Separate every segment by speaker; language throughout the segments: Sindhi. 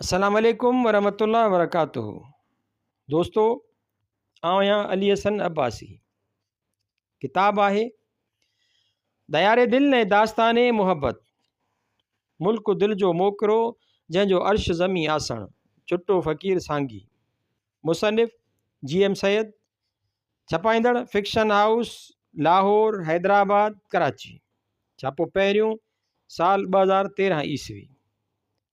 Speaker 1: السلام عليڪم ورحمة الله وبرڪاته دوستو آئون آهيان علي حسن عباسي ڪتاب آهي ديار دل ۽ داستان محبت ملڪ دل جو موڪرو جنهن جو عرش زمين آسڻ چٽو فقير سانگي مصنف جي ايم سيد ڇپائيندڙ فڪشن هائوس لاهور حيدرآباد ڪراچي ڇاپو پهريون سال ٻه هزار تيرهن عيسوي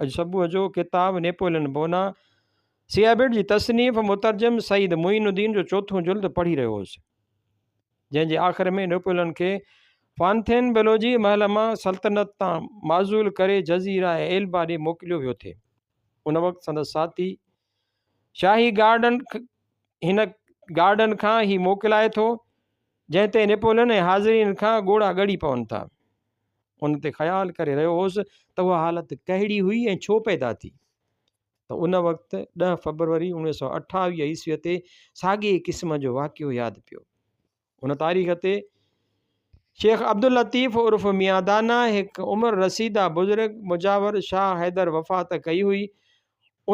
Speaker 1: اڄ صبح جو ڪتاب نيپولين بونا سيابيڊ جي تصنيف مترجم سيد معين الدين جو چوٿون جلد پڙهي رهيو هوس جنهن جي آخر ۾ نيپولين کي فانٿين بلوجي محل مان سلطنت تان معزول ڪري جزيره ايلبا ڏي موڪليو ويو ٿي ان وقت سندس ساٿي شاهي گارڊن هن گارڊن کان هي موڪلائي ٿو جنهن تي نيپولن ۽ حاضرين کان ڳوڙها ڳڙي پون ٿا ان تي خيال ڪري رهيو هوس ته اها حالت ڪهڙي هئي ۽ ڇو پيدا ٿي ته ان وقت ڏهه فبروري اڻويهه سو اٺاويهه عيسويء تي ساڳي قسم جو واقعو ياد پيو ان تاريخ تي شيخ عبداللطيف عرف ميان دانا هڪ عمر رسيده بزرگ مجاور شاهه حيدر وفات ڪئي هئي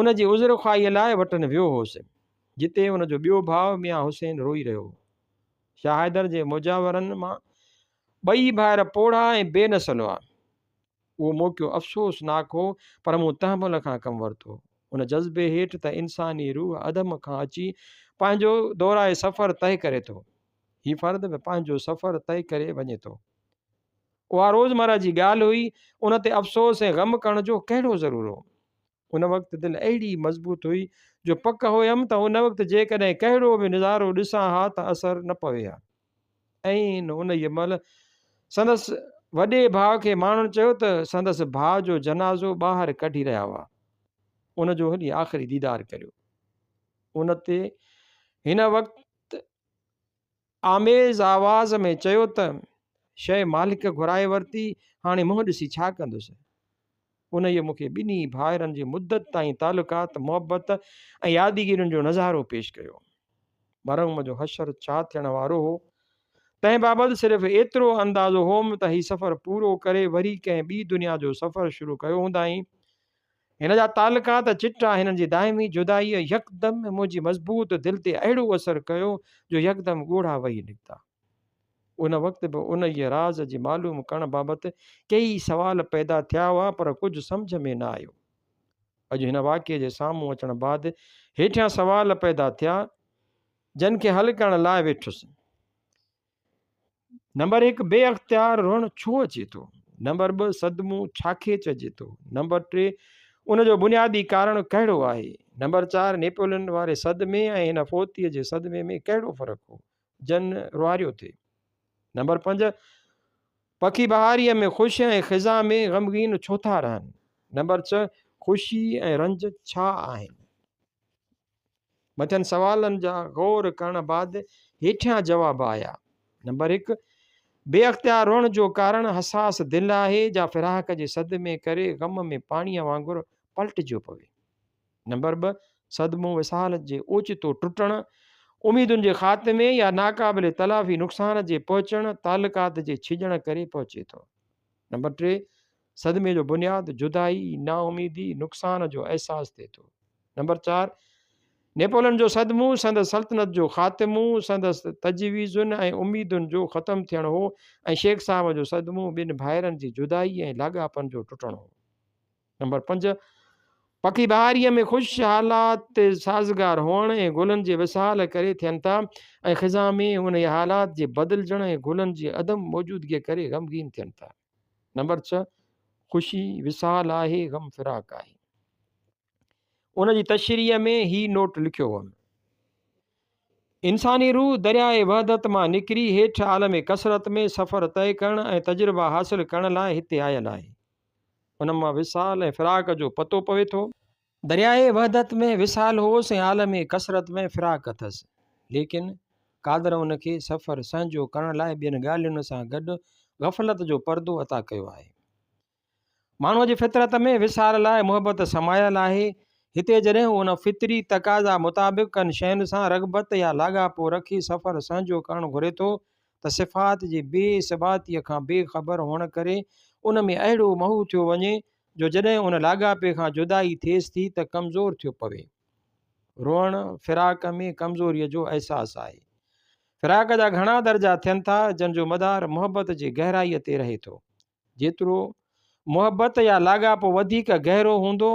Speaker 1: ان جي عذر خواهيء لاء وٽن ويو هوس جتي ان جو ٻيو ڀاء ميان حسين روئي رهيو هو شاهه حيدر جي مجاورن مان ٻئي ڀائر پوڙها ۽ بي نسل هئا اهو موقعو افسوس ناڪ هو پر مون تحمل کان ڪم ورتو. ان جذبي هيٺ ته انساني روح اڌم کان اچي پنهنجو دورائي سفر طئي ڪري ٿو. هي فرد به پنهنجو سفر طئي ڪري وڃي ٿو. اها روزمره جي ڳالهه هئي، ان تي افسوس ۽ غم ڪرڻ جو ڪهڙو ضرور هو. ان وقت دل اهڙي مضبوط هئي جو پڪ هئم ته ان وقت جيڪڏهن ڪهڙو به نظارو ڏسان ها ته اثر نه پوي ها. ۽ انهيء مهل سندس وڏي ڀاء کي ماڻهن چيو ته سندس ڀاء جو جنازو ٻاهر ڪڍي رهيا هئا ان جو هلي آخري ديدار ڪريو ان تي هن وقت آميز آواز ۾ چيو ته شيء مالڪ گهرائي ورتي هاڻي منهن ڏسي ڇا ڪندس انهيء مون کي ٻنهي ڀائرن جي مدت تائين تعلقات، محبت ۽ يادگيرين جو نظارو پيش ڪيو. مرحوم جو حشر ڇا ٿيڻ وارو هو، تنهن بابت صرف ايترو اندازو هوم ته هي سفر پورو ڪري وري ڪنهن ٻي دنيا جو سفر شروع ڪيو هوندائين. هن جا تعلقات چٽا، هنن جي دائمي جدائيء يڪدم منهنجي مضبوط دل تي اهڙو اثر ڪيو جو يڪدم ڳوڙها وهي نڪتا. ان وقت به انهيء راز جي معلوم ڪرڻ بابت ڪيئي سوال پيدا ٿيا هئا پر ڪجهه سمجهه ۾ نه آيو. اڄ هن واقعي جي سامهون اچڻ بعد هيٺيان سوال پيدا ٿيا جن کي حل ڪرڻ لاء ويٺس. نمبر هڪ بي اختيار رئڻ ڇو اچي ٿو؟ نمبر ٻه صدمو ڇا کي چئجي ٿو؟ نمبر ٽي ان جو بنيادي ڪارڻ ڪهڙو آهي؟ نمبر چار نيپولين واري صدمي ۽ هن فوتيء جي صدمي ۾ ڪهڙو فرق هو؟ جن روهاريو ٿئي. نمبر پنج، پکي بهاريء ۾ خوش ۽ خزاء ۾ غمگين ڇو ٿا رهن؟ نمبر ڇهه، خوشي ۽ رنج ڇا آهن؟ مٿين سوالن جا غور ڪرڻ بعد هيٺيان جواب آيا. نمبر هڪ، بي اختيار روئڻ جو ڪارڻ حساس دل آهي، جا فراق جي صدمي ڪري غم ۾ پاڻيء وانگر پلٽجيو پوي. نمبر ٻه، صدمو وصال جي اوچتو ٽٽڻ، اميدن جي خاتمي يا ناقابل تلافي نقصان جي پهچڻ، تعلقات جي ڇڄڻ ڪري پهچي ٿو. نمبر ٽي، صدمي جو بنياد جدائي، نااميدي، نقصان جو احساس ٿئي ٿو. نمبر چار، نيپولن جو صدمو سندس سلطنت جو خاتمو، سندس تجويزن ۽ اميدن جو ختم ٿيڻ هو ۽ شيخ صاحب جو صدمو ٻن ڀائرن جي جدائي ۽ لاڳاپن جو ٽٽڻ هو. نمبر پنج، پکي بهاريء ۾ خوش حالات تي سازگار هئڻ ۽ گلن جي وصال ڪري ٿين ٿا ۽ خزان ۾ انهيء حالات جي بدلجڻ ۽ گلن جي عدم موجودگيء ڪري غمگين ٿين ٿا. نمبر ڇهه، خوشي وصال آهي، غم فراق آهي. ان جي تشريح ۾ هي نوٽ لکيو هئم. انساني روح درياء وحدت مان نڪري هيٺ عالم ڪثرت ۾ سفر طئي ڪرڻ ۽ تجربا حاصل ڪرڻ لاء هتي آيل آهي. ان مان وصال ۽ فراق جو پتو پوي ٿو. درياهه وحدت ۾ وصال هوس ۽ عالم ڪثرت ۾ فراق اٿس. ليڪن قادر ان کي سفر سهنجو ڪرڻ لاء ٻين ڳالهين سان گڏ غفلت جو پردو عطا ڪيو آهي. ماڻهوء جي فطرت ۾ وصال لاء محبت سمايل آهي. هتي جڏهن هو ان فطري تقاضا مطابق ڪن شين سان رغبت يا لاڳاپو رکي سفر سهنجو ڪرڻ گهري ٿو ته صفات جي بي ثباتيء کان بي خبر هئڻ ڪري ان ۾ اهڙو محو ٿيو وڃي جو جڏهن ان لاڳاپي کان جدائي ٿئيس ٿي ته ڪمزور ٿيو پوي. روئڻ، فراق ۾ ڪمزوريء جو احساس آهي. فراق جا گهڻا درجا ٿين ٿا، جن جو مدار محبت جي گهرائيء تي رهي ٿو. جيترو محبت يا لاڳاپو وڌيڪ گهرو هوندو،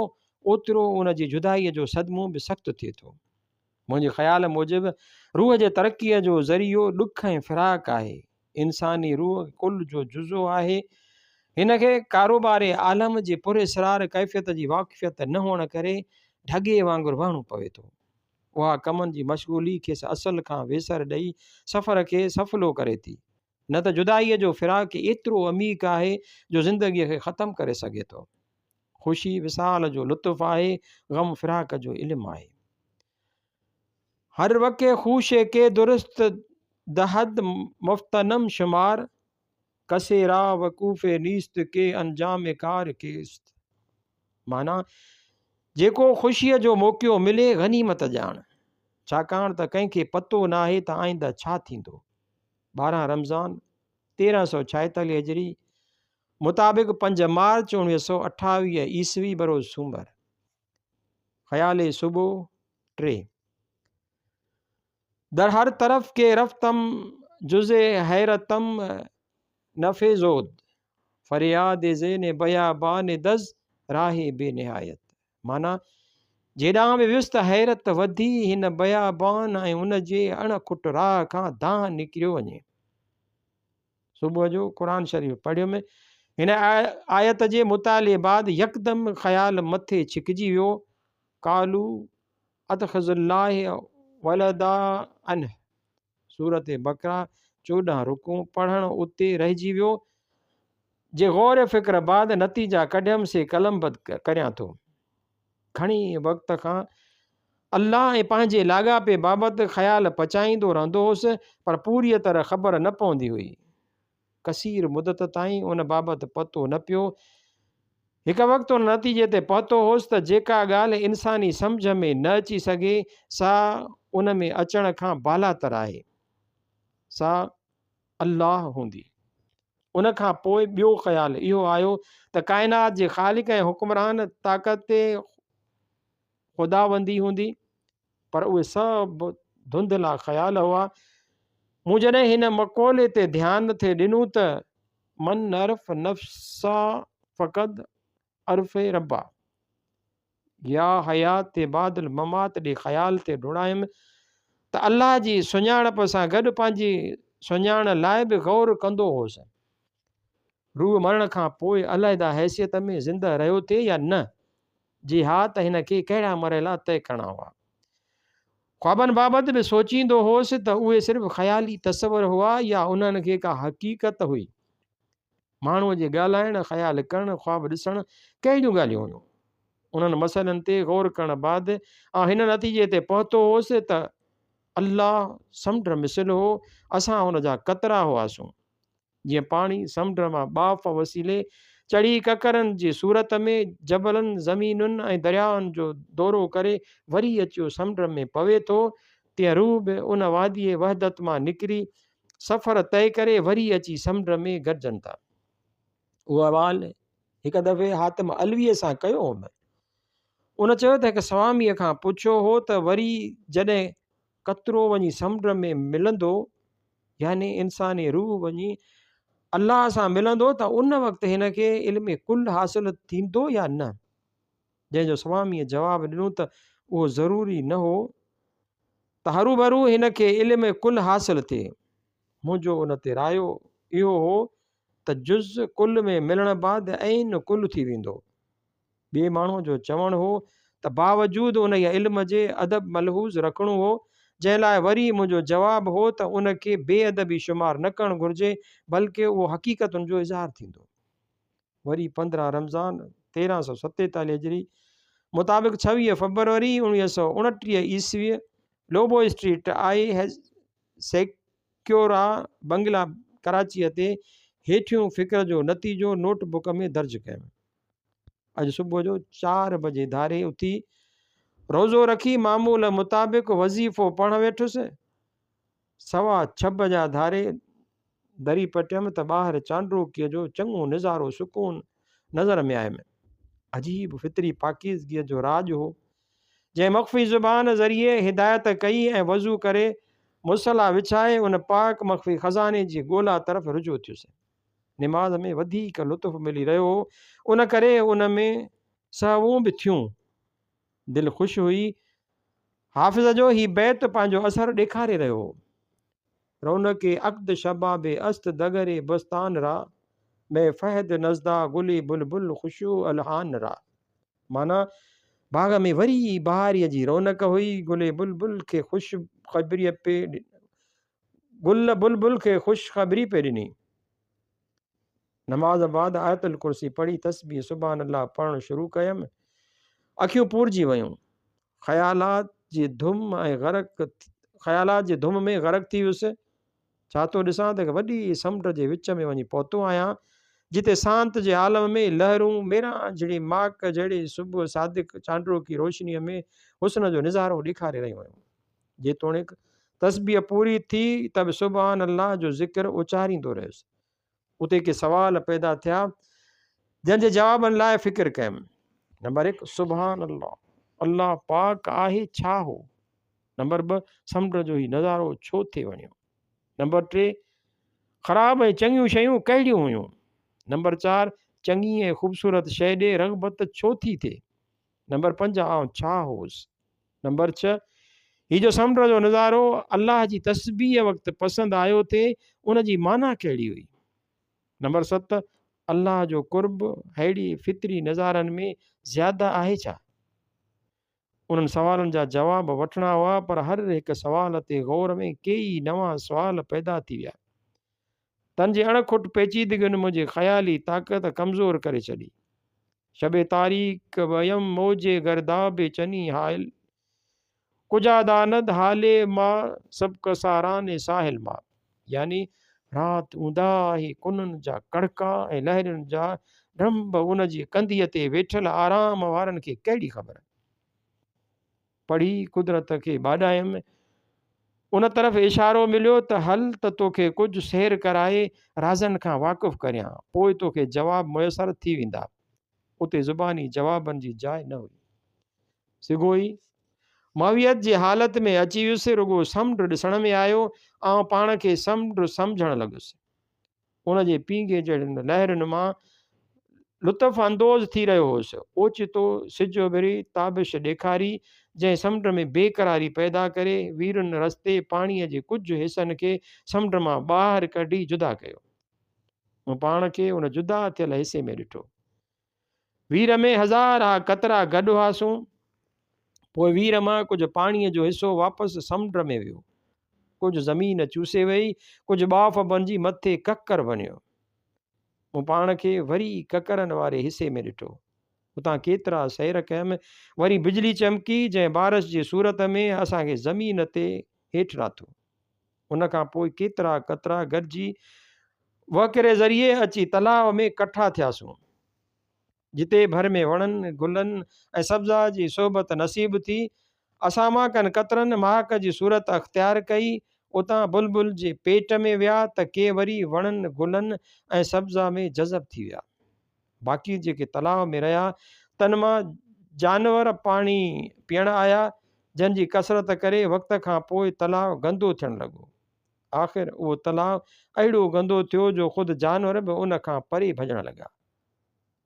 Speaker 1: اوترو ان جي جدائيء جو صدمو به سخت ٿئي ٿو. منهنجي خيال موجب روح جي ترقيء جو ذريعو ڏک ۽ فراق آهي. انساني روح ڪل جو جزو آهي. هن کي ڪاروبار عالم جي پراسرار ڪيفيت جي واقفيت نه هئڻ ڪري ڍڳي وانگر وهڻو پوي ٿو. اها ڪمن جي مشغولي کيس اصل کان ويسر ڏئي سفر کي سڦلو ڪري ٿي. نه ته جدائيء جو فراق ايترو عميق آهي جو زندگيء کي ختم ڪري سگهي ٿو. خوشي وصال جو لطف آهي، غم فراق جو علم آهي. هر وڪي خوش ڪي درست دهد مفتنم شمار، کسي را وقوف نيست ڪي انجام ڪار ڪيست. معنيٰ، جيڪو خوشيء جو موقعو ملي غنيمت ڄاڻ، ڇاڪاڻ ته ڪنهن کي پتو ناهي ته آئنده ڇا ٿيندو. ٻارهن رمضان تيرهن سؤ ڇائيتاليهه هجري مطابق پنج مارچ اوڻويهه سؤ اٺاويهه عيسوي بروز سومر خيالي صبح ٽي در هر طرف ڪي رفتم جز حيرتم نفيزود فرياد زين بيابان دز راهي بي نهايت معنيٰ، جيڏانهن به ويس ته حيرت وڌي هن بيابان ۽ ان جي اڻ کٽ راهه کان دانهن نڪريو وڃي. صبح جو قرآن شريف پڙهيم. هن آيت جي مطالعي بعد يڪدم خيال مٿي ڇڪجي ويو، قالو اتخذ الله ولدا انه سورة بقره چوڏهن رڪوع پڙهڻ اتي رهجي ويو. جي غور فڪر بعد نتيجا ڪڍيم سي قلمبد ڪريان ٿو. گهڻي وقت کان الله ۽ پنهنجي لاڳاپي بابت خيال پچائيندو رهندو هوس پر پوريء طرح خبر نه پوندي هئي. ڪثير مدت تائين ان بابت پتو نه پيو. هڪ وقت ان نتيجي تي پهتو هوس ته جيڪا ڳالهه انساني سمجهه ۾ نه اچي سگهي، سا ان ۾ اچڻ کان بالاتر آهي. سا الله هوندي. ان کان پوء ٻيو خيال اهو آيو ته ڪائنات جي خالق ۽ حڪمران طاقت تي خداوندي هوندي. پر اهي سڀ ڌنڌلا خيال هئا. مون جڏهن هن مقولي تي ڌيان ٿي ڏنو ته، من نعرف نفسه فقد عرف ربه يا حيات بعد الممات ڏي خيال تي ڊوڙايم ته الله جي سڃاڻپ سان گڏ پنهنجي سڃاڻ لاء به غور ڪندو هوس. روح مرڻ کان پوء علحده حيثيت ۾ زنده رهيو ٿي يا نه؟ جي ها ته هن کي ڪهڙا مرحلا طئي ڪرڻا هئا. خوابن بابت به سوچيندو هوس ته اهي صرف خيالي تصور هئا يا انهن کي ڪا حقيقت هئي. ماڻهوء جي ڳالهائڻ، خيال ڪرڻ، خواب ڏسڻ ڪهڙيون ڳالهيون هيون. انهن مسئلن تي غور ڪرڻ بعد آء هن نتيجي تي پهتو هوس ته الله سمنڊ مثل هو، اسان ان جا قطرا هئاسون. جيئن پاڻي سمنڊ مان ٻاڦ وسيلي چڙهي ڪڪرن جي صورت ۾ جبلن، زمينن ۽ دريائن جو دورو ڪري وري اچيو سمنڊ ۾ پوي ٿو، تيئن روح به ان واديء وحدت مان نڪري سفر طئي ڪري وري اچي سمنڊ ۾ گڏجن ٿا. اهو احوال هڪ دفعي حاتم علويء سان ڪيو هوم. ان چيو ته هڪ سواميء کان پڇيو هو ته وري جڏهن قطرو وڃي سمنڊ ۾ ملندو يعني انساني روح وڃي الله سان ملندو ته ان وقت هن کي علم ڪل حاصل ٿيندو يا نه جنهن جو سواميء جواب ڏنو ته اهو ضروري نه هو ته هروڀرو هن کي علم ڪل حاصل ٿئي منهنجو ان تي رايو اهو هو ته جز ڪل ۾ ملڻ بعد عين ڪل ٿي ويندو ٻئي ماڻهوء جو چوڻ هو ته باوجود انهيء علم جي ادب ملحوظ رکڻو هو، جنهن لاء وري منهنجو جواب هو ته ان کي بي ادبي شمار نه ڪرڻ گهرجي، بلڪ اهو حقيقتن جو اظهار ٿيندو. وري پندرهن رمضان، تيرهن سؤ ستيتاليهه هجري، مطابق ڇويهه فبروري اوڻيهه سؤ اڻٽيهه عيسويء، لوبو اسٽريٽ آء سيڪيورا بنگلا ڪراچيء تي هيٺيون فڪر جو نتيجو نوٽ بڪ ۾ درج ڪيم. اڄ صبح جو چار بجي ڌاري اٿي روزو رکي معمول مطابق وظيفو پڙهڻ ويٺس سوا ڇهه بجا ڌاري دري پٽيم ته ٻاهر چانڊروڪيء جو چڱو نظارو سڪون نظر ۾ آيم عجيب فطري پاڪيزگيء جو راڄ هو جنهن مخفي زبان ذريعي هدايت ڪئي ۽ وضو ڪري مصلا وڇائي ان پاڪ مخفي خزاني جي ڳولا طرف رجوع ٿيس نماز ۾ وڌيڪ لطف ملي رهيو هو ان ڪري ان ۾ سهوون به ٿيون دل خوش هئي حافظ جو هي بيت پنهنجو اثر ڏيکاري رهيو هو رونق عقد شباب است دگر بستان را مي فهد نزدا گلي بلبل خوشو الحان را معنی باغ ۾ وري بهاري جي رونق هئي گلي بلبل کي خوش خبري پي گل بلبل کي خوش خبري پئي ڏني. نماز بعد آيت الڪرسي پڙهي تسبيح سبحان الله پڙهڻ شروع ڪيم اکيون پورجي ويون خيالات جي ڌم ۽ غرق خيالات جي ڌم ۾ غرق ٿي ويس ڇا ٿو ڏسان ته وڏي سمنڊ جي وچ ۾ وڃي پهتو آهيان جتي سانت جي عالم ۾ لهرون ميران جھڙي ماڪ جھڙي صبح صادق چانڊرو ڪي روشني ۾ حسن جو نظارو ڏيکاري رهيون آهن جيتوڻيڪ تسبيح پوري ٿي ته به سبحان الله جو ذڪر اچاريندو رهيس. اتي ڪي سوال پيدا ٿيا جن جي جوابن لاء فڪر ڪيم. نمبر هڪ، سبحان الله، الله پاڪ آهي ڇا هو؟ نمبر ٻه، سمنڊ جو هي نظارو ڇو ٿي وڻيو؟ نمبر ٽي، خراب ۽ چڱيون شيون ڪهڙيون هيون؟ نمبر چار، چڱي ۽ خوبصورت شيء ڏي رغبت ڇو ٿي ٿئي؟ نمبر پنج آئون ڇا هوس؟ نمبر ڇهه هي جو سمنڊ جو نظارو الله جي تسبيح وقت پسند آيو ٿي ان جي معنيٰ ڪهڙي هئي؟ نمبر ست الله جو قرب ههڙي فطري نظارن ۾ زياده آهي ڇا؟ انهن سوالن جا جواب وٺڻا هئا پر هر هڪ سوال تي غور ۾ ڪيئي نوان سوال پيدا ٿي ويا. تن جي اڻ کٽ پيچيدگين منهنجي خيالي طاقت ڪمزور ڪري ڇڏي. شب تاريڪ ويم موج گرداب چني حائل. ڪجا داند حالي ما سبق ساران ساحل ما. يعني رات اونداهه آهي ڪنن جا ڪڙڪا ۽ لهرين جا ڊنڀ ان جي ڪنڌيء تي ويٺل آرام وارن کي ڪهڙي خبر. پڙهي قدرت کي ٻاڏايم. ان طرف اشارو مليو ته هل ته توکي ڪجهه سير ڪرائي رازن کان واقف ڪريان، پوء توکي جواب ميسر ٿي ويندا. اتي زباني جوابن جي جاء نه هئي. سگهوئي معويت جي حالت ۾ اچي ويس، رڳو سمنڊ ڏسڻ ۾ آيو. آئون پاڻ کي سمنڊ سمجهڻ لڳس. ان جي پينگهي چڙهندڙ لهرن مان لطف اندوز ٿي رهيو هوس. اوچتو سج اڀري تابش ڏيکاري، جنهن سمنڊ ۾ بيقراري پيدا ڪري، ويرن رستي پاڻيء جي ڪجهه حصن کي سمنڊ مان ٻاهر ڪڍي جدا ڪيو. مون پاڻ کي ان جدا ٿيل حصي ۾ ڏٺو. وير ۾ هزار ها قطرا گڏ هئاسون. پوء وير مان ڪجهه پاڻيء جو حصو واپس سمنڊ ۾ ويو. ڪجهه زمين چوسي ويئي، ڪجهه ٻاڦ بڻجي مٿي ڪڪر بڻيو. مون پاڻ کي وري ڪڪرن واري حصي ۾ ڏٺو. اتان ڪيترا سير ڪيم، وري بجلي چمڪي، جنهن بارش جي صورت ۾ اسان کي زمين تي هيٺ راٿو. ان کان پوء ڪيترا قطرا گڏجي وهڪري ذريعي اچي تلاء ۾ ڪٺا ٿياسون. جتي ڀر ۾ وڻن، گلن ۽ سبزا جي صحبت نصيب ٿي، اسان مهڪن قطرن مهڪ جي صورت اختيار ڪئي، اتان بلبل جي پيٽ ۾ ويا ته ڪي وري وڻن، گلن ۽ سبزا ۾ جذب ٿي ويا. باقي جيڪي تلاء ۾ رهيا تن مان جانور پاڻي پيئڻ آيا جن جي ڪثرت ڪري وقت کان پوء تلاء گندو ٿيڻ لڳو. آخر اهو تلاء اهڙو گندو ٿيو جو خود جانور به ان کان پري ڀڄڻ لڳا.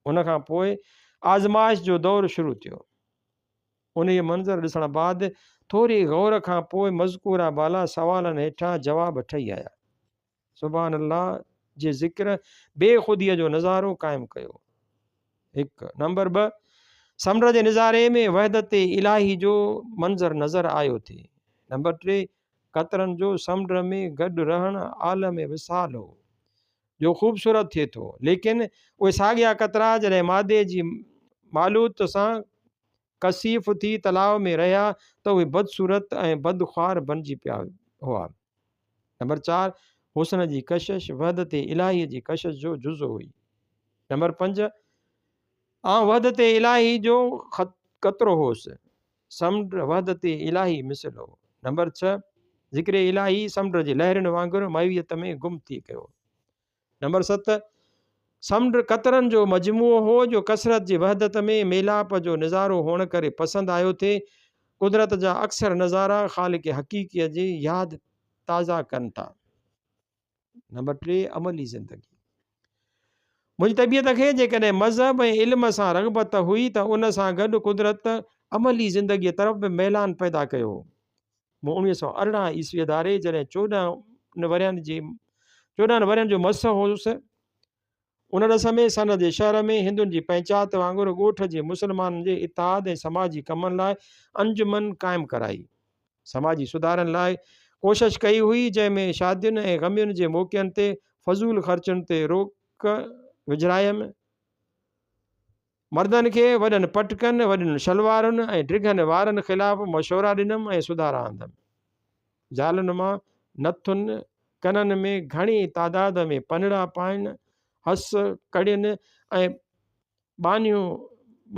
Speaker 1: ان کان پوء آزمائش جو دور شروع ٿيو. انهيء منظر ڏسڻ بعد ٿوري غور کان پوء مذڪوره بالا سوالن هيٺان جواب ٺهي آيا. سبحان الله جي ذڪر بي خوديء جو نظارو قائم ڪيو هڪ نمبر ٻه سمنڊ جي نظاري ۾ وحدت الٰهي جو منظر نظر آيو ٿي نمبر ٽي قطرن جو سمنڊ ۾ گڏ رهڻ عالم وصال هو جو خوبصورت ٿئي ٿو ليڪن اهي ساڳيا قطرا جڏهن مادي جي معلوت سان ڪثيف ٿي تلاء ۾ رهيا ته اهي بدصورت ۽ بدخوار بڻجي پيا هئا. نمبر چار، حسن جي ڪشش وحدت الاهيء جي ڪشش جو جزو هئي. نمبر پنج، آئون وحدت الاهي جو قطرو هوس، سمنڊ وحدت الاهي مثل هو. نمبر ڇهه، ذڪر الاهي سمنڊ جي لهرين وانگر مئويت ۾ گم ٿي ڪيو. نمبر ست، سمنڊ قطرن جو مجموعو هو جو ڪثرت جي وحدت ۾ ميلاپ جو نظارو هئڻ ڪري پسند آيو ٿي. قدرت جا اڪثر نظارا خالق حقيقيء جي ياد تازه ڪن ٿا. نمبر ٽي، عملي زندگي. منهنجي طبيعت کي جيڪڏهن مذهب ۽ علم سان رغبت هئي ته ان سان گڏ قدرت عملي زندگيء طرف به ميلان پيدا ڪيو هو. مون اوڻيهه سؤ ارڙهن عيسويء ڌاري جڏهن چوڏهن ورهين جي چوڏهن ورهين جو مس هوس، ان ڏس ۾ سن جي شهر ۾ هندن جي پنچات وانگر ڳوٺ جي مسلمانن جي اتحاد ۽ سماجي ڪمن لاء انجمن قائم ڪرائي. سماجي سڌارن لاء ڪوشش ڪئي هئي، جنهن ۾ شادين ۽ غمين جي موقعن تي فضول خرچن تي روڪ وجهرايم. مردن کي وڏن پٽڪن، وڏين شلوارن ۽ ڊگهن وارن خلاف مشورا ڏنم ۽ سڌارا آندم. زالن مان نٿن ڪنن ۾ گهڻي تعداد ۾ پنڙا پائڻ، هس، ڪڙين ۽ ٻانهيون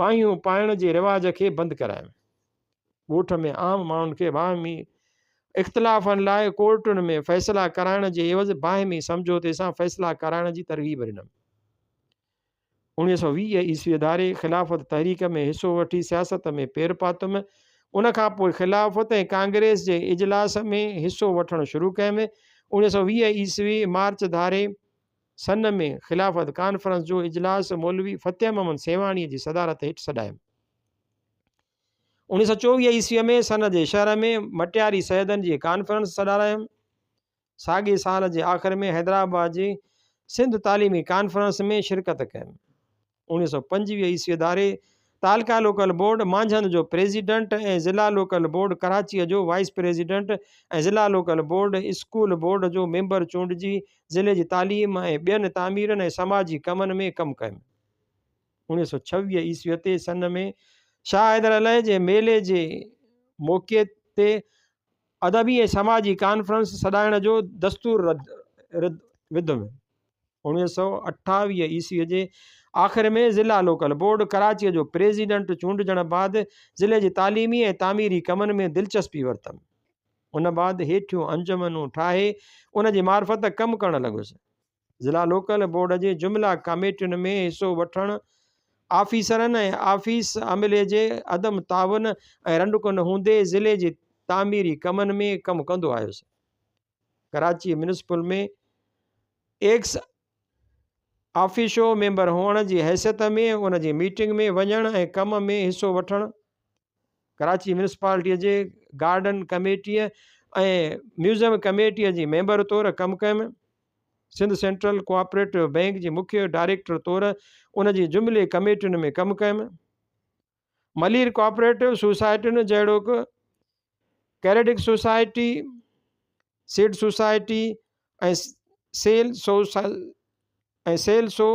Speaker 1: ٻانهيون پائڻ جي رواج کي بند ڪرايم. ڳوٺ ۾ عام ماڻهن کي باهمي اختلافن لاء ڪورٽن ۾ فيصلا ڪرائڻ جي عيوض باهمي سمجهوتي سان فيصلا ڪرائڻ جي ترغيب ڏنم. اڻيهه سؤ ويهه عيسوي ڌاري خلافت تحريڪ ۾ حصو وٺي سياست ۾ پير پاتم. ان کان پوء خلافت ۽ ڪانگريس جي اجلاس ۾ حصو وٺڻ شروع ڪيم. اڻيهه سؤ ويهه عيسوي مارچ ڌاري سن ۾ خلافت ڪانفرنس جو اجلاس مولوي فتح محمد سيوهاڻيء جي صدارت هيٺ سڏايم. اڻيهه سؤ چوويهه عيسوي ۾ سن جي شهر ۾ مٽياري سيدن جي ڪانفرنس سڏارايم. ساڳئي سال جي آخر ۾ حيدرآباد جي سنڌ تعليمي ڪانفرنس ۾ شرڪت ڪيم. اوڻيھ سئو پنجويھ عيسوي اداري تعلقه لوڪل بورڊ مانجهند جو پريزيڊنٽ ۽ ضلع لوڪل بورڊ ڪراچيء جو وائيس پريزيڊنٽ ۽ ضلع لوڪل بورڊ اسڪول بورڊ جو ميمبر چونڊجي ضلعي جي تعليم ۽ ٻين تعميرن ۽ سماجي ڪمن ۾ ڪم ڪيم. اوڻيھ سئو ڇويھ عيسوي تي سن ۾ شاهه حيدر عليء جي ميلي جي موقعي تي ادبي ۽ سماجي ڪانفرنس سڏائڻ جو دستور وڌو ويو. اوڻويهه سؤ اٺاويهه عيسويء جي آخر ۾ ضلع لوڪل بورڊ ڪراچيء جو پريزيڊنٽ چونڊجڻ بعد ضلعي جي تعليمي ۽ تعميري ڪمن ۾ دلچسپي ورتم. ان بعد هيٺيون انجمنون ٺاهي ان جي معرفت ڪم ڪرڻ لڳس. ضلع لوڪل بورڊ جي جملا ڪاميٽين ۾ حصو وٺڻ آفيسرن ۽ آفيس عملي جي عدم تعاون ۽ رنڊڪن هوندي ضلعي جي تعميري ڪمن ۾ ڪم ڪندو آيس Karachi municipal ۾ ex officio member هئڻ جي حيثيت ۾ ان جي ميٽنگ ۾ وڃڻ ۽ ڪم ۾ حصو وٺڻ ڪراچي ميونسپالٽيء جي گارڊن ڪميٽيء ۽ ميوزيم ڪميٽيء جي ميمبر طور ڪم ڪيم. سنڌ سينٽرل ڪوآپريٽو بئنڪ جي مکيه ڊائريڪٽر طور ان جي جملي ڪميٽين ۾ ڪم ڪيم. ملير ڪوآپريٽو سوسائٽين جهڙوڪ، credit society, seed society, ۽ sale society ۽ sale سو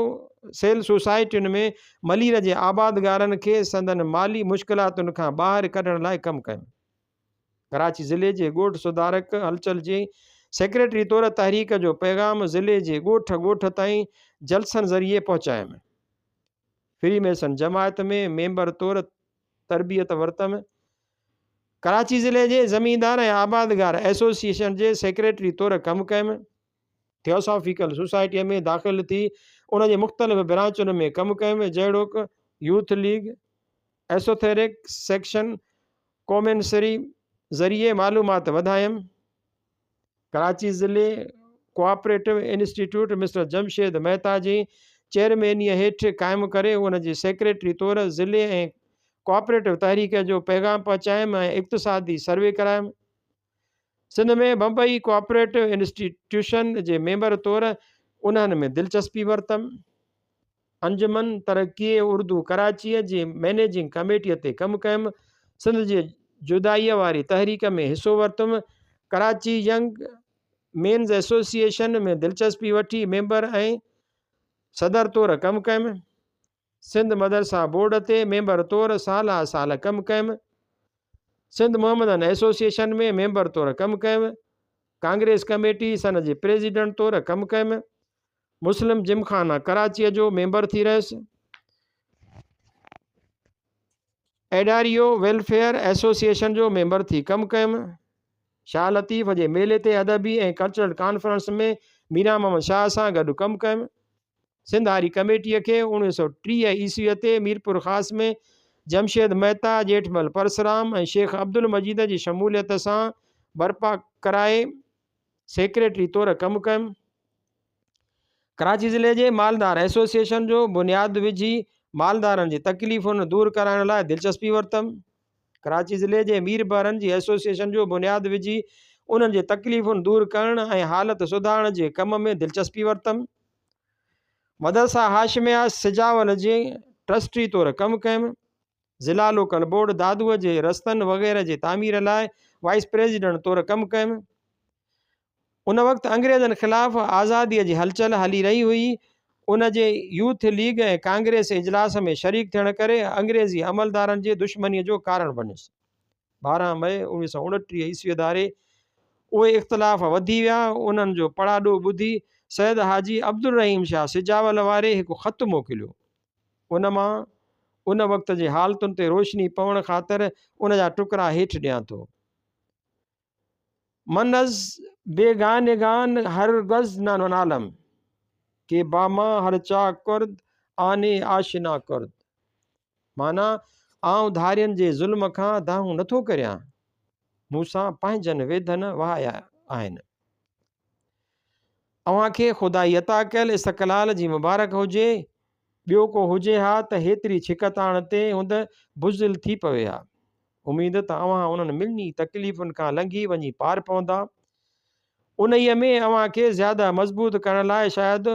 Speaker 1: سيل سوسائٽين ۾ ملير جي آبادگارن کي سندن مالي مشڪلاتن کان ٻاهر ڪڍڻ لاء ڪم ڪيو. ڪراچي ضلعي جي ڳوٺ سڌارڪ هلچل جي سيڪريٽري طور تحريڪ جو پيغام ضلعي جي ڳوٺ ڳوٺ تائين جلسن ذريعي پهچايم. فري ميسن جماعت ۾ ميمبر طور تربيت ورتم. ڪراچي ضلعي جي زميندار ۽ آبادگار ايسوسيئيشن جي سيڪريٽري طور ڪم ڪيم. ٿيوسافيڪل سوسائٽيء ۾ داخل ٿي ان جي مختلف برانچن ۾ ڪم ڪيم، جهڙوڪ، يوٿ ليگ، ايسوٿيرڪ سيڪشن، ڪومينسري ذريعي معلومات وڌايم. ڪراچي ضلعي cooperative institute mister Jamshed Mehta جي چيئرمينيء هيٺ قائم ڪري ان جي سيڪريٽري طور ضلعي ۽ ڪوآپريٽو تحريڪ جو پيغام پهچايم ۽ اقتصادي سروي ڪرايم. سنڌ ۾ بمبئي ڪوآپريٽو انسٽيٽيوشن جي ميمبر طور انهن ۾ دلچسپي ورتم. انجمن ترقيء اردو ڪراچيء جي مئنيجنگ ڪميٽيء تي ڪم ڪيم، سنڌ جي جدائيء واري تحريڪ ۾ حصو ورتم، ڪراچي ينگ مينز ايسوسيئيشن ۾ دلچسپي وٺي ميمبر ۽ صدر طور ڪم ڪيم، سنڌ مدرسه بورڊ تي ميمبر طور سالها سال ڪم ڪيم، سنڌ محمدن ايسوسيئيشن ۾ ميمبر طور ڪم ڪيم، ڪانگريس ڪميٽي سن جي پريزيڊنٽ طور ڪم ڪيم. مسلم جم خانه ڪراچيء جو ميمبر ٿي رهيس. ايڊاريو ويلفيئر ايسوسيئيشن جو ميمبر ٿي ڪم ڪيم. شاهه لطيف جي ميلي تي ادبي ۽ ڪلچرل ڪانفرنس ۾ ميران محمد شاهه سان گڏ ڪم ڪيم. سنڌ هاري ڪميٽيء کي اوڻويهه سؤ ٽيهه عيسويء تي ميرپورخاص ۾ جمشيد مهتا، ڄيٺمل پرسرام ۽ شيخ عبدالمجيد جي شموليت سان برپا ڪرائي سيڪريٽري طور ڪم ڪيم. ڪراچي ضلعي جي مالدار ايسوسيئيشن جو بنياد وجهي مالدارن جي تڪليفن دور ڪرائڻ لاء دلچسپي ورتم ڪراچي ضلعي جي مير بحرن جي ايسوسيئيشن جو بنياد وجهي انهن جي تڪليفن دور ڪرڻ ۽ حالت سڌارڻ جي ڪم ۾ دلچسپي ورتم مدرسه هاشميه سجاول جي ٽرسٽي طور ڪم ڪيم ضلع لوڪل بورڊ دادوء جي رستن وغيره جي تعمير لاء وائيس پريزيڊنٽ طور ڪم ڪيم. ان وقت انگريزن خلاف آزاديء جي هلچل هلي رهي هئي. ان جي يوٿ ليگ ۽ ڪانگريس اجلاس ۾ شريڪ ٿيڻ ڪري انگريزي عملدارن جي دشمنيء جو ڪارڻ بڻيس. ٻارهن مئي اوڻويهه سؤ اڻٽيهه عيسويء ڌاري اهي اختلاف وڌي ويا. انهن جو پڙاڏو ٻڌي سيد حاجي عبدالرحيم شاهه سجاول واري هڪ خط موڪليو. ان مان ان وقت جي حالتن تي روشني پوڻ خاطر ان جا ٽڪرا هيٺ ڏيان ٿو. منز بيگانگان هر گز نه نالم، ڪي باما هر چاڪ ڪرد، آني آشنا ڪرد. معنيٰ، آئون ڌارين جي ظلم کان دانهون نه ٿو ڪريان، مون سان پنهنجن ويڌن وهايا آهن. اوهان کي خدائي عطا ڪيل استقلال جي مبارڪ هجي. ٻيو ڪو هجي ها ته هيتري ڇڪتاڻ تي هوند بزدل ٿي پوي ها. اميد ته اوهان انهن ملني تڪليفن کان لنگهي وڃي پار پوندا. انهيء ۾ اوهان کي زياده مضبوط ڪرڻ لاء شايد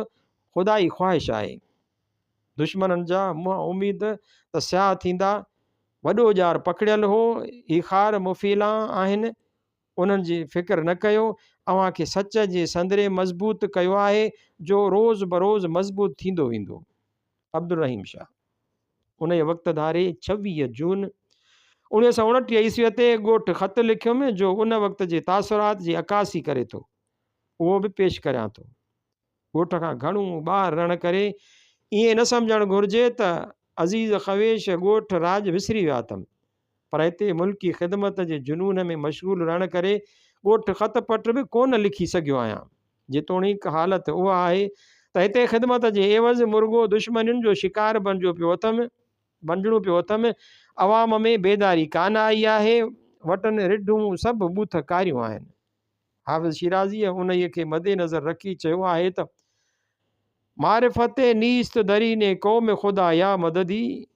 Speaker 1: خدائي خواهش آهي. دشمنن جا منهن اميد ته سياهه ٿيندا. وڏو ڄار پکڙيل هو. هي خار مفيلان آهن. انهن جي فڪر نه ڪيو، اوهان کي سچ جي سندري مضبوط ڪيو آهي، جو روز بروز مضبوط ٿيندو ويندو. عبدالرحيم شاهه انهيء وقت ڌاري ڇويهه جون اوڻيهه سؤ اڻٽيهه عيسويء تي ڳوٺ خط لکيم، جو ان وقت جي تاثرات جي عڪاسي ڪري ٿو، اهو به پيش ڪريان ٿو. ڳوٺ کان گهڻو ٻاهر رهڻ ڪري ائين نه سمجهڻ گهرجي ته عزيز خويش ڳوٺ راڄ وسري ويا اٿم پر هتي ملڪي خدمت جي جنون ۾ مشغول رهڻ ڪري ڳوٺ خط پٽ به ڪونه لکي سگهيو آهيان جيتوڻيڪ حالت اها آهي ته هتي خدمت جي عيوض مرڳو دشمنين جو شڪار بڻجو پيو اٿم بنجڻو پيو اٿم عوام ۾ بيداري ڪانه آئي آهي وٽن رڍون سڀ ٻوٿ ڪاريون آهن. حافظ شيرازيء انهيء کي مد نظر رکي چيو آهي ته، معرفت نيست درين قوم خدا يا مددي،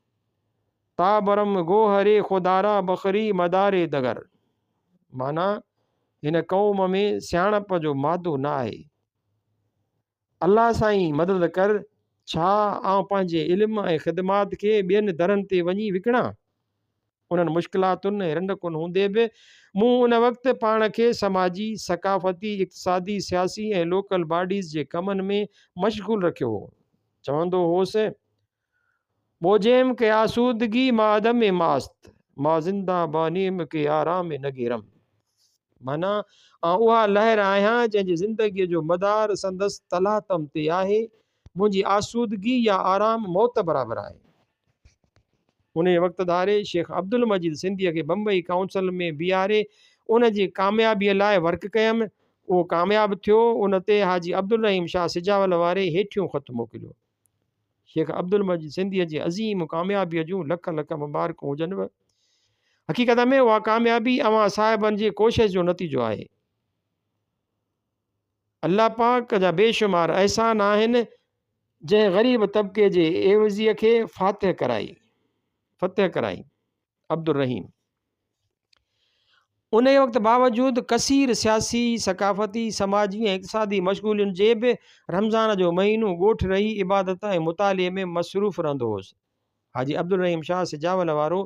Speaker 1: تا برم گوهر خدارا بخري مدار دگر. معنيٰ، هن قوم ۾ سياڻپ جو مادو نه آهي. الله سائين مدد ڪر ڇا آئون پنهنجي علم ۽ خدمات کي ٻين درن تي وڃي وڪڻان؟ انهن مشڪلاتن ۽ رنڊڪن هوندي به مون ان وقت پاڻ کي سماجي، ثقافتي، اقتصادي، سياسي ۽ لوڪل باڊيز جي ڪمن ۾ مشغول رکيو هو. چوندو هوس ٻوجهيم ڪي آسودگي مان عدم ماست مان زنده بانيم ڪي آرام نگيرم معنيٰ آئون اها لهر آهيان جنهن جي زندگيء جو مدار سندس تلاطم تي آهي منهنجي آسودگي يا آرام موت برابر آهي انهيء وقت ڌاري شيخ عبدالمجيد سنڌيء کي بمبئي ڪائونسل ۾ بيهاري ان جي ڪاميابيء لاء ورڪ ڪيم اهو ڪامياب ٿيو ان تي حاجي عبدالرحيم شاهه سجاول واري هيٺيون خط موڪليو. شيخ عبدالمجيد سنڌيء جي عظيم ڪاميابيء جون لک لک مبارڪون هجنو. حقيقت ۾ اها ڪاميابي اوهان صاحبن جي ڪوشش جو نتيجو آهي. الله پاڪ جا بيشمار احسان آهن جنهن غريب طبقي جي عيوضيء کي فاتح ڪرائي فتح ڪرائي. عبدالرحيم انهيء وقت باوجود ڪثير سياسي، ثقافتي، سماجي ۽ اقتصادي مشغولين جي به رمضان جو مهينو ڳوٺ رهي عبادت ۽ مطالعي ۾ مصروف رهندو هوس. حاجي عبدالرحيم شاهه سجاول وارو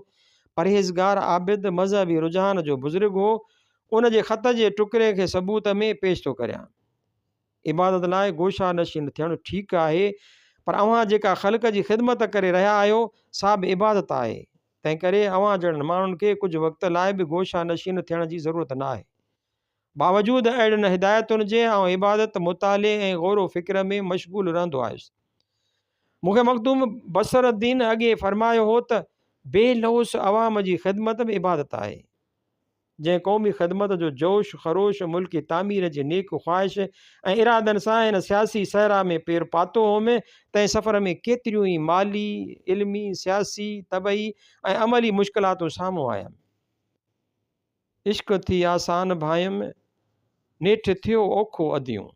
Speaker 1: پرهيزگار، عابد، مذهبي رجحان جو بزرگ هو. ان جي خط جي ٽڪري کي ثبوت ۾ پيش ٿو ڪريان. عبادت لاء گوشا نشين ٿيڻ ٺيڪ آهي پر اوهان جيڪا خلق جي خدمت ڪري رهيا آهيو سا به عبادت آهي تنهن ڪري اوهان جهڙن ماڻهن کي ڪجهه وقت لاء به گوشا نشين ٿيڻ جي ضرورت نه آهي باوجود اهڙين هدايتن جي آئون عبادت مطالعي ۽ غور و فڪر ۾ مشغول رهندو آهيس مون کي مخدوم بصر الدين اڳي فرمايو هو ته بي لوث عوام جي خدمت به عبادت آهي جنهن قومي خدمت جو جوش خروش، ملڪي تعمير جي نيڪ خواهش ۽ ارادن سان هن سياسي صحرا ۾ پير پاتو هوم، تنهن سفر ۾ ڪيتريون ئي مالي، علمي، سياسي، طبعي ۽ عملي مشڪلاتون سامهون آيم. عشق ٿي آسان ڀانئيم، نيٺ ٿيو اوکو اديون.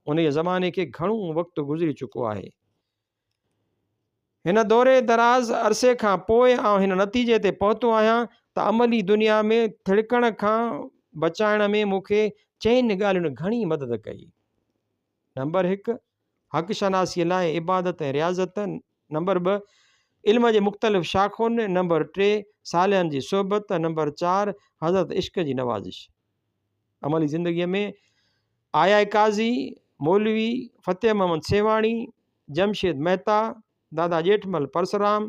Speaker 1: انهيء زماني کي گهڻو وقت گذري چڪو آهي. هن دوري دراز عرصي کان پوء آئون هن نتيجي تي پهتو آهيان ته عملي دنيا ۾ ٿڙڪڻ کان بچائڻ ۾ مون کي چئن ڳالهين گهڻي مدد ڪئي. نمبر هڪ، حق شناسيء لاء عبادت ۽ رياضت، نمبر ٻه، علم جي مختلف شاخن، نمبر ٽي، صالحن جي صحبت، نمبر چار، حضرت عشق جي نوازش. عملي زندگيء ۾ آيا قاضي، مولوي فتح محمد سيوهاڻي، جمشيد مهتا، دادا ڄيٺمل پرسرام،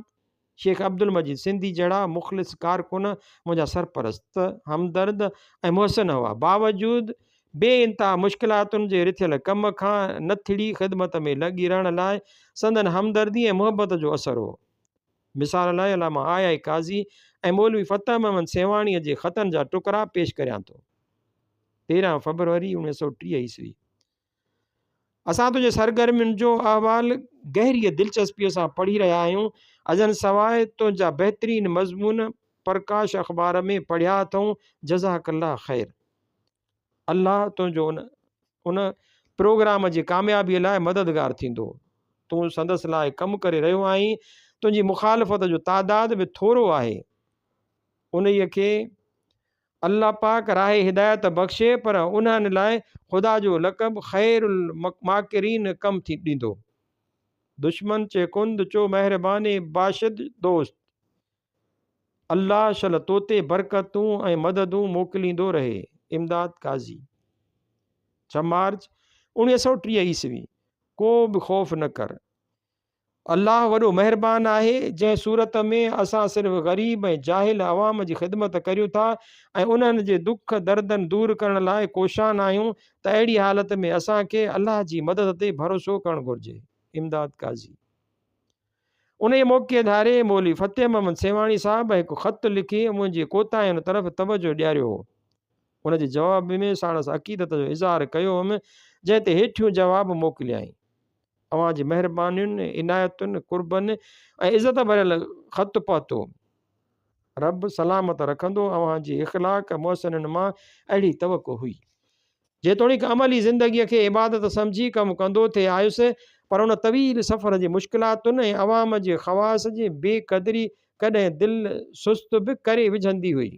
Speaker 1: شيخ عبدالمجيد سنڌي جهڙا مخلص ڪارڪن منهنجا سرپرست، همدرد ۽ محسن هئا. باوجود بي انتها مشڪلاتن جي رٿيل ڪم کان نٿڙي خدمت ۾ لڳي رهڻ لاء سندن همدردي ۽ محبت جو اثر هو. مثال لاء علامه آء آء قاضي ۽ مولوي فتح محمد سيوهاڻيء جي خطن جا ٽڪرا پيش ڪريان ٿو. تيرهن فيبروري اوڻيهه سؤ ٽيهه عيسوي. اسان تنهنجي سرگرمين جو احوال گهريء دلچسپيء سان پڙهي رهيا آهيون. ازن سواء تنهنجا بهترين مضمون پرڪاش اخبار ۾ پڙهيا اٿئون. جزاڪ الله خير. الله تنهنجو ان ان پروگرام جي ڪاميابيء لاء مددگار ٿيندو. تون سندس لاء ڪم ڪري رهيو آهين. تنهنجي مخالفت جو تعداد به ٿورو آهي. انهيء کي الله پاڪ راهه هدايت بخشي پر انهن لاء خدا جو لقب خير الماڪرين ڪم ٿي ڏيندو. دشمن چي ڪند چو مهرباني باشد دوست. الله شل توتي برڪتون ۽ مددون موڪليندو رهي. امداد قاضي ڇهه مارچ اوڻيهه سؤ ٽيهه عيسوي ڪو به خوف نه ڪر الله وڏو مهربان آهي جنهن صورت ۾ اسان صرف غريب ۽ جاهل عوام جي خدمت ڪريون ٿا ۽ انهن جي دک دردن دور ڪرڻ لاء ڪوشان آهيون ته اهڙي حالت ۾ اسان کي الله جي مدد تي ڀروسو ڪرڻ گهرجي امداد قاضي انهيء موقعي ڌاري مولوي فتح محمد سيوهاڻي صاحب هڪ خط لکي منهنجي ڪوتاهين طرف توجهه ڏياريو هو. ان جي جواب ۾ ساڻس عقيدت جو اظهار ڪيو هوم، جنهن تي هيٺيون جواب موڪليائين. اوهان جي مهربانين، عنايتن، قربن ۽ عزت ڀريل خط پهتو. رب سلامت رکندو. اوهان جي اخلاق محسنن مان اهڙي توقع هئي. جيتوڻيڪ عملي زندگيء کي عبادت سمجهي ڪم ڪندو ٿي آيس، پر ان طويل سفر جي مشڪلاتن ۽ عوام جي خواص جي بي قدري ڪڏهن دل سست به ڪري وجهندي هئي.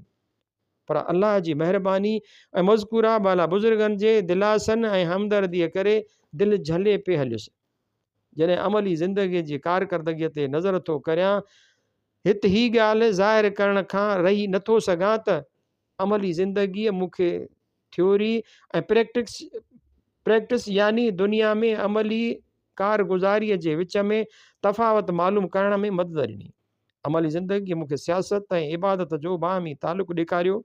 Speaker 1: پر الله جي مهرباني ۽ مذڪوره بالا بزرگن جي دلاسن ۽ همدرديء ڪري دل جهلي پئي هليس. جڏهن عملي زندگيء جي ڪارڪردگيء تي نظر ٿو ڪريان، هت هي ڳالهه ظاهر ڪرڻ کان رهي نٿو سگهان ته عملي زندگيء مون کي ٿيوري ۽ پريڪٽڪس پريڪٽس يعني دنيا ۾ عملي ڪارگذاريء جي وچ ۾ تفاوت معلوم ڪرڻ ۾ مدد ڏني. عملي زندگيء مون کي سياست ۽ عبادت جو باهمي تعلق ڏيکاريو.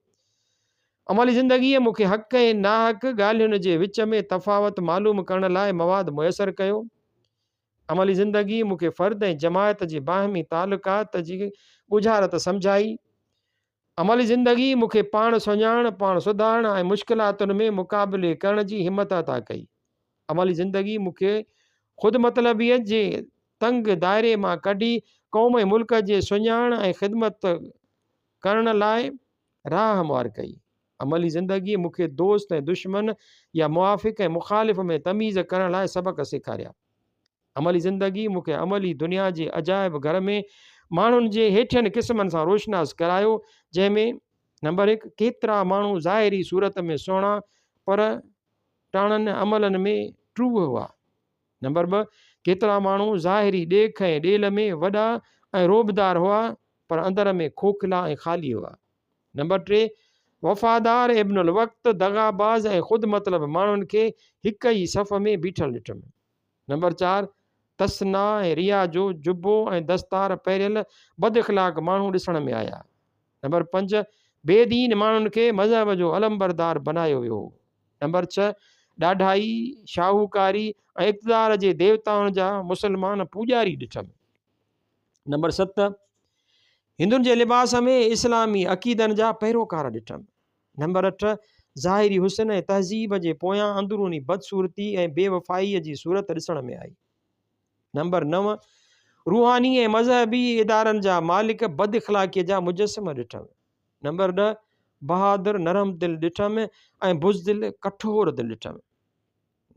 Speaker 1: عملي زندگيء مون کي حق ۽ ناحق ڳالهين جي وچ ۾ تفاوت معلوم ڪرڻ لاء مواد ميسر ڪيو. عملي زندگيء مون کي فرد ۽ جماعت جي باهمي تعلقات جي ڳجهارت سمجهائي. عملي زندگي مون کي پاڻ سڃاڻڻ، پاڻ سڌارڻ ۽ مشڪلاتن ۾ مقابلي ڪرڻ جي همت عطا ڪئي. عملي زندگي مون کي خود مطلبيت جي تنگ دائري مان ڪڍي قوم ۽ ملڪ جي سڃاڻڻ ۽ خدمت ڪرڻ لاء راهه هموار ڪئي. عملي زندگي مون کي دوست ۽ دشمن يا موافق ۽ مخالف ۾ تميز ڪرڻ لاء سبق سيکاريا. عملي زندگي مون کي عملي دنيا جي عجائب گهر ۾ ماڻهن جي هيٺين قسمن سان روشناس ڪرايو جنهن ۾ نمبر هڪ ڪيترا ماڻهو ظاهري صورت ۾ سهڻا پر ٽاڻن عملن ۾ ٽروء هئا نمبر ٻه ڪيترا ماڻهو ظاهري ڏيک ۽ ڏيل ۾ وڏا ۽ روبدار هئا پر اندر ۾ کوکلا ۽ خالي هئا نمبر ٽي وفادار ابن الوقت دغاباز ۽ خود مطلب ماڻهن کي هڪ ئي صف ۾ بيٺل ڏٺم نمبر چار، تسنا ۽ ريا جو جبو ۽ دستار پهريل بد اخلاق ماڻهو ڏسڻ ۾ آيا. نمبر پنج، بي دين ماڻهن کي مذهب جو علمبردار بنايو ويو هو. نمبر ڇهه، ڏاڍائي، شاهوڪاري ۽ اقتدار جي ديوتائن جا مسلمان پوڄاري ڏٺم. نمبر ست، هندن جي لباس ۾ اسلامي عقيدن جا پيروڪار ڏٺم. نمبر اٺ، ظاهري حسن ۽ تهذيب جي پويان اندروني بدصورتي ۽ بي وفائيء جي صورت ڏسڻ ۾ آئي. نمبر نو، روحاني ۽ مذهبي ادارن جا مالڪ بد اخلاقيء جا مجسمه ڏٺم. نمبر ڏهه، بهادر، نرم دل ڏٺم ۽ بزدل، ڪٺور دل ڏٺم.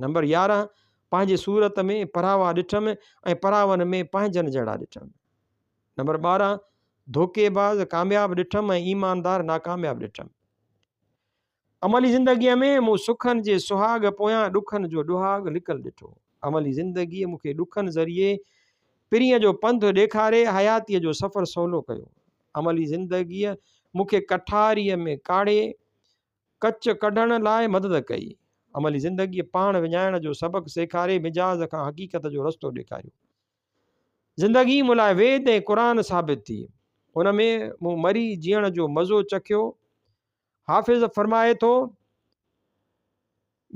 Speaker 1: نمبر يارهن، پنهنجي صورت ۾ پراوا ڏٺم ۽ پراون ۾ پنهنجن جهڙا ڏٺم. نمبر ٻارهن، ڌوڪي باز ڪامياب ڏٺم ۽ ايماندار ناڪامياب ڏٺم. عملي زندگيء ۾ مون سکن جي سهاڳ پويان ڏکن جو ڏهاڳ لڪل ڏٺو. عملي زندگيء مون کي ڏکن ذريعي پرينء جو پنڌ ڏيکاري حياتيء جو سفر سولو ڪيو. عملي زندگيء مون کي ڪٺاريء ۾ ڪاڙهي ڪچ ڪڍڻ لاء مدد ڪئي. عملي زندگيء پاڻ وڃائڻ جو سبق سيکاري مجاز کان حقيقت جو رستو ڏيکاريو. زندگي مون لاء ويد ۽ قرآن ثابت ٿي. ان ۾ مون مري جيئڻ جو مزو چکيو. حافظ فرمائي ٿو.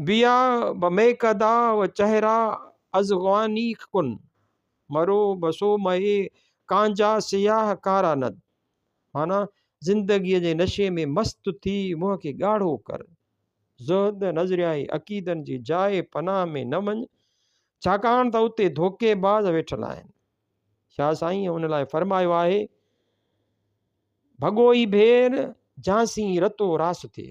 Speaker 1: بيا به ميڪدا و چهرا از غواني کن مرو بسو مهي ڪانجا سياه ڪارا ند معنيٰ زندگيء جي نشي ۾ مست ٿي منهن کي ڳاڙهو ڪر. زهد نظريائي عقيدن جي جاء پناهه ۾ نه وڃ، ڇاڪاڻ ته اتي ڌوڪي باز ويٺل آهن. شاهه سائينء ان لاء فرمايو آهي، ڀڳوئي ڀير جانسين رتو راس ٿئي.